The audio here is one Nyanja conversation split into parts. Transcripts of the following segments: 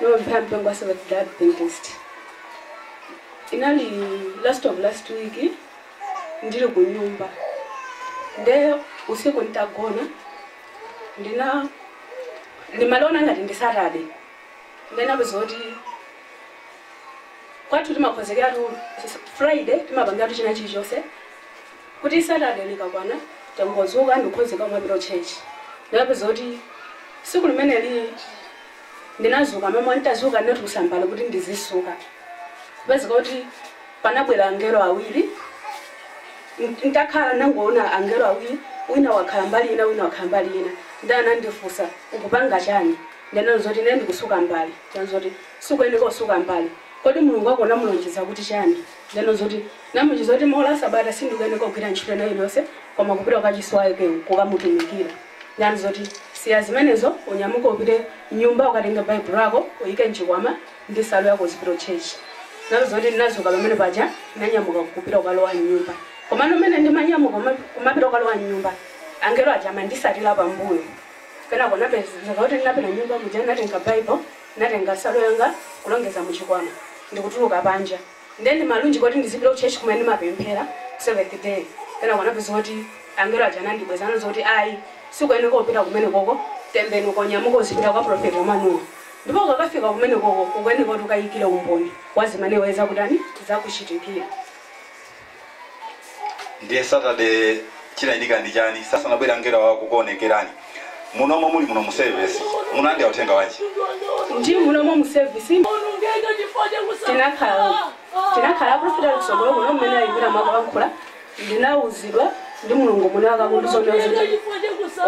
Ndimapemphera mpingo wa Seventh Day Adventist. Inali last of last week ndili ku nyumba. Nde usiku nitagona ndina ndimaliona ngati ndi Saturday. Nde napeza kuti kwathu timakhozekeratu Friday timapangatu china chilichonse kuti Saturday likakwana tangodzuka ndikukhozeka kumapita ku church ndinapeza kuti siku limeneli ndinazuka mamawa nditazuka ndinatulusa mbale kuti ndizisuka kupezeka kuti panabwera angelo awiri ntakhala ndinangoona angelo awiri wina wakhala mbali ina wina wakhala mbali ina nde anandifusa ukupanga chani ndinanena zoti ine ndikusuka mbale nde ananena zoti sukuyeneka kusuka mbale kodi Mulungu wako unamulonjeza kuti chani Ndinanena zoti namulonjeza kuti maola asabata sindikuyeneka kugwira ntchito ina iliyose koma kupita kukachisi wake kukamutumikira nde ananena zoti siya zimenezo unyamuke upite mnyumba ukatenge baibulo lako uyike mchikwama ndi salu yako uzipita kuchurch nalo zoti ndinazuka pamene paja ndinanyamuka kupita kukalowa mnyumba komano mene ndimanyamuka kumapita kukalowa mnyumba angelo aja amandisatila pambuyo kenako napezeka kuti ndinapita mnyumba muja natenga baibulo Ndinatenga nsalu yanga kulongeza mu chikwama ndikutuluka panja nde ndimalunjika kuti ndizipita ku church kumene ndimapemphera seventh day kenako napeza kuti angelo aja anandibweza ananena zoti ayi sukuyeneka kupita kumenekoko tembenuka unyamuke uzipita kwa prophet Emmanuel ndipo ukakafika kumenekoko ukuyeneka kuti ukayikile umboni wa zimene iwe zakutani zakuchitikira. ndiye saturday chinachitika ndi chani asanabwere angelowa kukuonekerani munomo muli muno mu service munalandira uthenga wanji ndi munomo mu service tinakhala profita kusogolo kuno mmene ayimira akulankhula ndinauzidwa ndi mulungu muno akundisonyeza kuti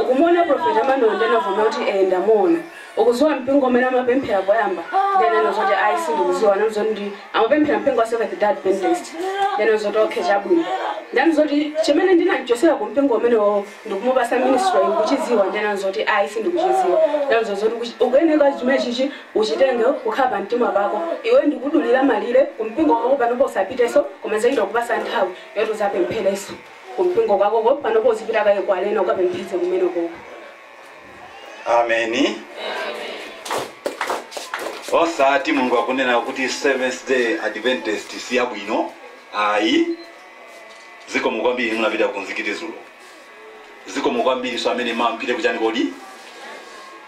ukumuona profeta Emmanuel ndinavomera kuti ee ndamuona Ukuziwa mpingo umene amapemphera poyamba ndiye ndinanena zoti ayi sindikuziwa ananena zoti ndi amapemphera mpingo wa Seventh Day Adventist ndiye ndinanena zoti okay chabwino ndiye ananena zoti chimene ndinamchosera ku mpingo umenewowo ndikumupasa ministry iyi ukuchiziwa ndiye ndinanena zoti ayi sindikuchiziwa ndiye ananena zoti ukuchi- ukuyeneka chimene chichi uchitenge kukhala pa mtima pako iwe ndikudulira malire ku mpingo wako panopo usapiteso koma nzachita kukupasa nthawi yoti uzapemphereso ku mpingo kwakoko panopo uzipita kaye ku arena ukapempheze kumenekoko ameni osati mulungu akunena kuti seventh day adventist si yabwino ayi zikomo kwambiri munapita kumzikiti zulo zikomo kwambiri so amene mumapita kuchani kodi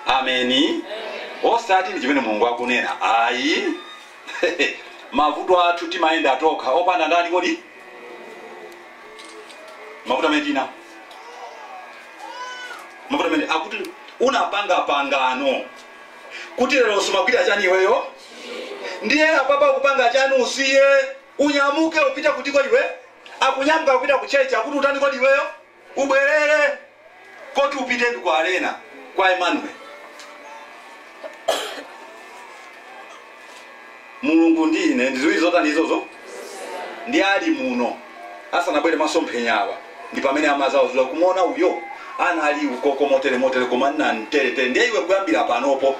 ameni osati ndi chimene mulungu akunena ayi mavuto athu timayenda atokha opanda ndani kodi mavuto amene tina mavuto amene akuti unapanga pangano kuti lero sumagwira chani iweyo ndiye apapa akupanga chani usiye unyamuke upite kuti kodi iwe akunyamuka kupita ku church kuti utani kodi iweyo ubwerere koti upite ndi kwa arena kwa emmanuel Mulungu ndi ine ndi zizi zotani izozo? Ndili muno asanabwere masomphenya awa, ndi pamene amadzawazula. Kumuona uyo anali ukoko motere, motere, koma nnan tere, tere. Ndiye iwe kuyambira panopo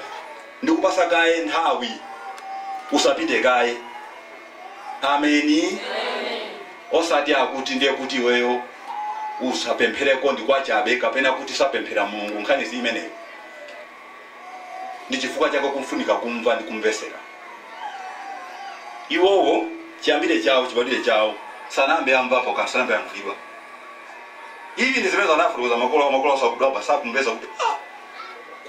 ndikupatsa kaye nthawi, usapite kaye. Ameni. Osati akuti ndiye kuti iweyo usapemphereko ndi kwachabe, kapena kuti sapemphera Mulungu, nkhani si imeneyo. ndi chifukwa chake kufunika kumva ndi kumvetsera iwowo chiyambire chawo chibadwire chawo sanayambe amvapo kanthu sanayambe amvulidwa ivi ndi zimene zanafutukuza makolo makolo asakudwa basa kumvetsa kuti ah,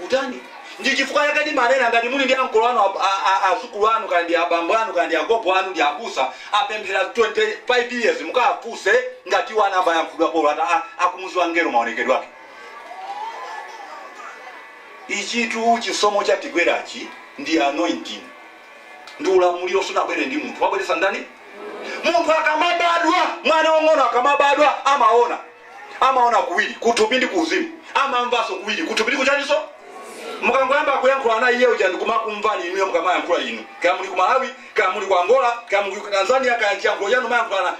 kutani ndi chifukwa chake ndimanena ngati muli ndi ankolo anu ab- a- a- azukulu anu kaya ndi abambo anu kaya ndi agogo anu ndi abusa apemphera 25 years mukafunse ngati iwo anayamba ayankhulidwapo olo ata a- akumudziwa ngero maonekedwe ake Ichitu chisomo chatigwerachi ndi anointing ndi ulamuliro sunabwere ndi munthu wabweretsa ndani munthu akamabadwa mwana wang'ono akamabadwa amaona amaona kuwiri kuthupi ndi kuuzimu amamvanso kuwiri kuthupi ndi kuchaninso mukangoyamba kuyankhula na iye uja ndikumakumverani inuyo mukamayankhula inu kaya muli ku malawi kaya muli ku angola kaya muli ku tanzania kaya chiyankhulo chanu mayankhulana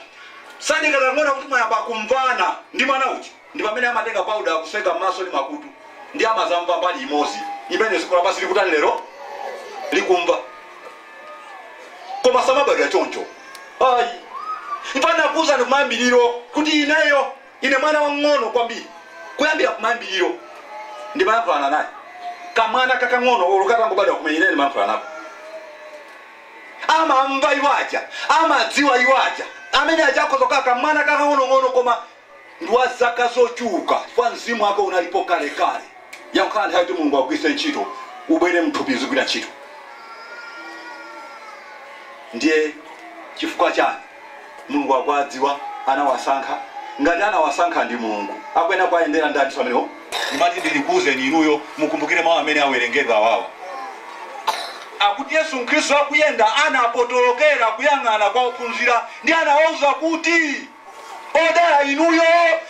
sadikira kuona kuti mwayamba kumvana ndi mwana uja ndi pamene amatenga powder kutseka mmaso ndi makutu ndiye amazamva mbali imodzi imene dziko lapansi likutani lero likumva koma samabadwa choncho ayi mpang'onakuuzani kumayambiriro kuti ineyo ine mwana wang'ono kwambiri kuyambira kumayambiriro ndimayankhulana naye kamwana kakang'ono olo katangobadwa kumene ine ndimayankhulana nako amamva iwaja amadziwa iwaja amene aja akhoza kukhala kamwana kakang'onong'ono koma ndi wa zaka zochuluka, chifukwa mzimu wake unalipo kalekale. Yangokhala nthawi yoti Mulungu augwiritse ntchito, ubwere mthupi uzigwira ntchito. Ndiye chifukwa chani? Mulungu akuwadziwa, anawasankha. Ngati anawasankha ndi Mulungu, akuyenera kuwayendera. Ndani? Siamenewo? Ndimati ndikuuzeni inuyo, mukumbukire mau amene awerengedwa awawa. Akuti Yesu Khristu akuyenda, anapotolokera kuyang'ana kwa ophunzira, ndiye anawauza kuti. Odala inuyo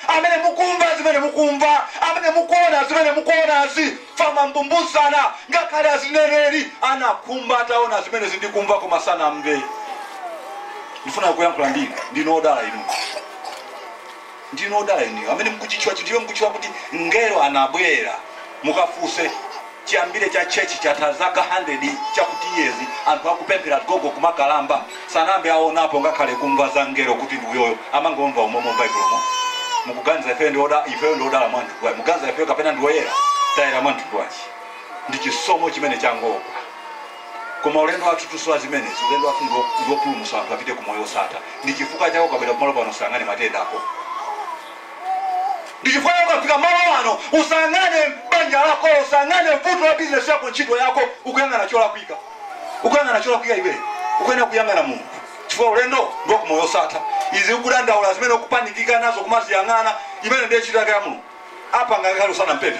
amene mukumva zimene mukumva, amene mukuona zimene mukuonazi. Famambumbuzana ngakhale aneneri anakhumba ataona zimenezi ndi kumva koma sanamve. Ndifuna kuyankhula ndi inu, ndinu odala inuyo. Ndinu odala inuyo amene mukuchitchula chinthu chimene mukuchitchula kuti mngelo anabwera. Mukafuse Chiyambire cha church chatha zaka hundred chakuti years anthu akupemphera gogo kumakalamba sanayambe aonapo ngakhale kumva za mngelo kuti ndi uyoyo amangomva umomo m'baibulo mo. Mukuganiza ifeyo ndi oda ifeyo ndi odala mwa mtundu wanji? Mukuganiza ifeyo kapena ndi oyera? Tayera mwa mtundu wanji? Ndi chisomo chimene changogwa. Koma ulendo wathutu si wa zimenezi ulendo wathu ndiwo ndiwopulumutsa anthu apite ku moyo wosatha. Ndi chifukwa chake ukabwera kumalo pano usayang'ane matenda ako. Ndichifukwa chake ukafika malo ano usayang'ane banja lakolo, usayang'ane vuto la business yako, ntchito yako, ukuyang'ana cholakwika, ukuyang'ana cholakwika iwe ukuyenera kuyang'ana Mulungu chifukwa ulendo ndi wakumoyo osatha. Izi ukudandaula zimene ukupanikizika nazo kumaziyang'ana, imeneyo ndiye ntchito yake ya Mulungu, apanga ngakhale usanampemphe.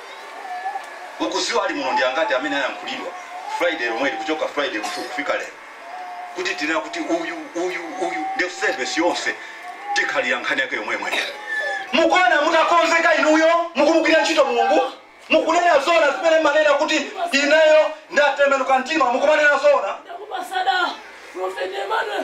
ukudziwa ali muno ndi angati amene ayankhulidwa friday lomweli kuchoka friday kutu kufika lero kuti tinena kuti uyu uyu uyu ndi service yonse tikhala ya nkhani yake yomwemwe mukuona mutakonzeka inuyo mukumugwira ntchito mulungu mukunena zona zimene mmanena kuti ineyo ndatembenuka mtima mukumanena zona ndakupatsa da profeti emmanuel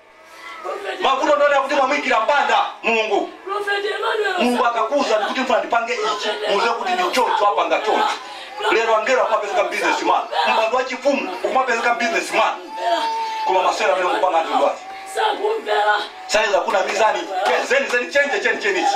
mavuto ndinena kuti mwamuikira mpanda mulungu mulungu akakuuza kuti mfuna ndipange ichi muuze kuti ndi choncho apanga choncho lero angelo akumapezeka mbusinessman mpando wa chifumu ukumapezeka mbusinessman koma masewera amene mukupanga anthu ndwazi sakumvera sayiza kunamizani Che, zeni zeni chenje cheni chenichi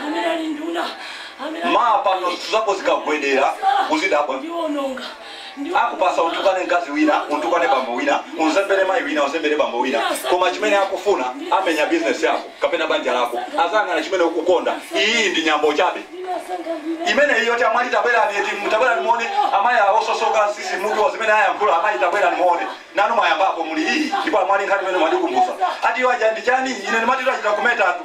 amene ali nduna amene ali Ma pano zinthu zako zikagwedera uzadabwa. ndiononga akupatsa utukane mkazi wina utukane bambo wina unzembere mayi wina unzembere bambo wina koma chimene akufuna amenye bizinesi yako kapena banja lako azayang'ana chimene ukukonda iyi ndi nyambo chabe ndinasankha ndine imene iyo tamwali tabwerani eti tabwerani muone amayi osososoka tsitsi mutu wa zimene ayankhula amayi tabwerani muone nanu mwayambapo muli iyi ndipo amwali nkhani imene mwandikumbutsa ati iwo aja ndi chani ine ndimatito achita kumetatu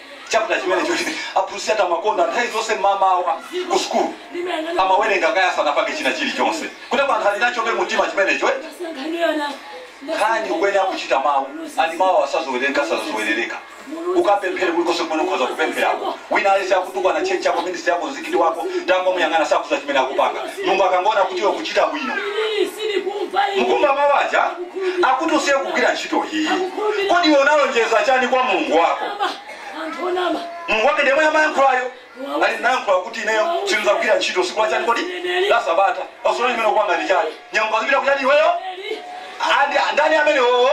chapter chimene choti aphunzitsi athu amakonda nthawi zonse mmamawa ku sukulu amawerenga kaye asanapange china chilichonse kuti apa anthu ali nachobe mumtima chimenecho eh? nkhani kuyenera kuchita mawu andi mawu asazowerereka asazowerereka ukapemphere kulikonse kumene ukhoza kupempherako wina alese akutukwana chechi yako ministry yako mzikiti wako tangomuyang'ana sakudziwa chimene akupanga mulungu akangoona kuti iwe ukuchita bwino mukumva mawu aja akuti usiye kugwira ntchito iyi kodi iwe unalonjeza chani kwa mulungu wako anthu onama mulungu wake ndiyemwe amayankhulayo ali nayankhula kuti ineyo sinzagwira ntchito siku lachani kodi la sabata pasola limene kupanga ndi chani nyama ndizipita kutchalitchi iweyo eli Andi- ndani amene wowo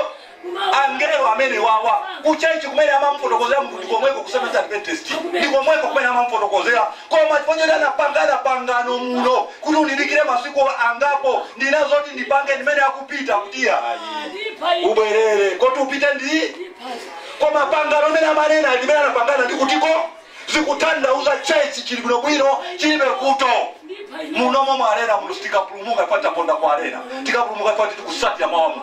angelo amenewa kutchalitchi kumene amamufotokozera munthu ndikomweko ku Seventh Day Adventist ndikomweko kumene amamufotokozera Koma chifukwa choti anapangana pangano muno kuti undidikire masiku angapo, ndina zoti ndipange ndimene akupita kuti ayi ubwerere kuti upite ndi koma pangano limene amanena limene anapangana ndi kutiko sikutanthauza church chili bwinobwino chilibe kuto munomo mwa arena muno sitikapulumuka chifukwa taponda kwa arena tikapulumuka chifukwa titikusatira mawa muno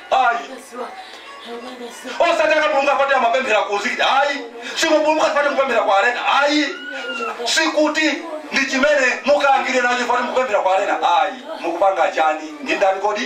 ayi osati akapulumuka poti amapemphera kumzikiti ayi simupulumuka poti mukupemphera kwa arena ayi sikuti ndi chimene mukangire nacho poti mukupemphera kwa arena ayi mukupanga chani ndi ndani kodi